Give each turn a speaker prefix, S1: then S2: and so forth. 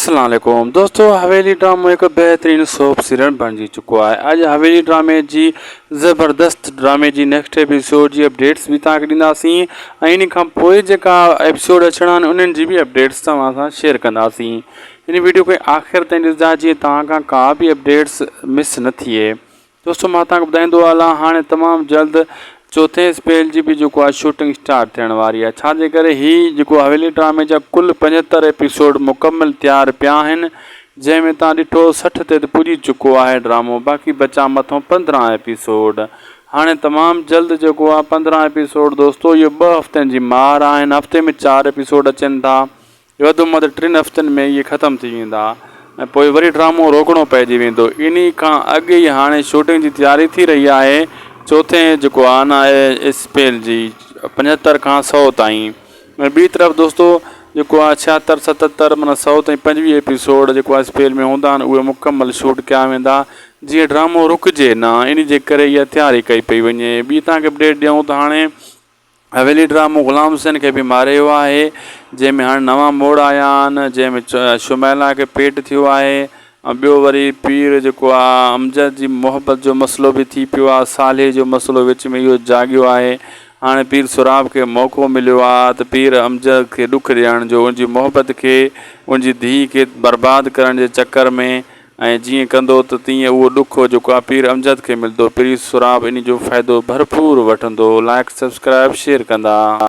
S1: اسلام عليڪم دوستو حويلي ڊرامو هڪ بهترين سوپ سيريل بڻجي چڪو آهي اڄ حويلي ڊرامي جي زبردست ڊرامي جي نيڪسٽ ايپيسوڊ جي اپڊيٽس به توهان کي ڏينداسين ۽ ان کان پوء جيڪا ايپيسوڊ اچڻا آهن انهن جي به اپڊيٽس توهان سان شيئر ڪنداسين ان ويڊيو کي آخر تائين ڏسجا جيئن توهان کان ڪا به اپڊيٽس مس نه ٿئي دوستو مان توهان کي ٻڌائيندو هلان هاڻي تمام جلد چوٿين اسپيل جي به جيڪو آهي شوٽنگ اسٽارٽ ٿيڻ واري آهي ڇا جي ڪري هي جيڪو حويلي ڊرامي جا ڪل پنجهتر ايپيسوڊ مڪمل تيار پيا آهن جنهن ۾ توهان ڏٺو سٺ تي ته پڄي چڪو آهي ڊرامو باقي بچا مٿون پندرهن ايپيسوڊ هاڻي تمام جلد جيڪو آهي پندرهن ايپيسوڊ دوستو اهي ٻه هفتن جي مهار آهن هفتي ۾ چار ايپيسوڊ اچن ٿا وڌ مد ٽن هفتن ۾ اهي ختم ٿي ويندا ۽ پوء وري ڊرامو روڪڻو پئجي ويندو انهي کان اڳ ئي هاڻي شوٽنگ جي تياري ٿي رهي آهي چوٿين جيڪو آن آهي اسپيل جي پنجهتر کان سؤ تائين ۽ ٻي طرف دوستو جيڪو آهي ڇهتر ستتر معنيٰ سؤ تائين پنجويهه ايپيسوڊ جيڪو آهي اسپيل ۾ هوندا آهن اهي مڪمل شوٽ ڪيا ويندا جيئن ڊرامو رڪجي نه انهي جي ڪري اها تياري ڪئي پئي وڃي ٻي تان کي اپڊيٽ ڏيون ته هاڻي حويلي ڊرامو غلام حسين کي به ماري ويو آهي جنهن ۾ هاڻي نوان موڙ آيا آهن جنهن ۾ شميلا کي پيٽ ٿيو آهي ۽ ٻيو وري پير جيڪو آ امجد جي محبت جو مسئلو به ٿي پيو آ صالحي جو مسئلو وچ ۾ اهو جاڳيو آهي هاڻي پير سهراب کي موقعو مليو آ ته پير امجد کي ڏک ڏيڻ جو ان جي محبت کي ان جي ڌيء کي برباد ڪرڻ جي چڪر ۾ ۽ جيئن ڪندو ته تيئن اهو ڏک هو جو ڪاپير امجد کي ملندو پليز سھراب انھي جو فائدو ڀرپور وٺندو لائيڪ سبسڪرائيب شيئر ڪندا.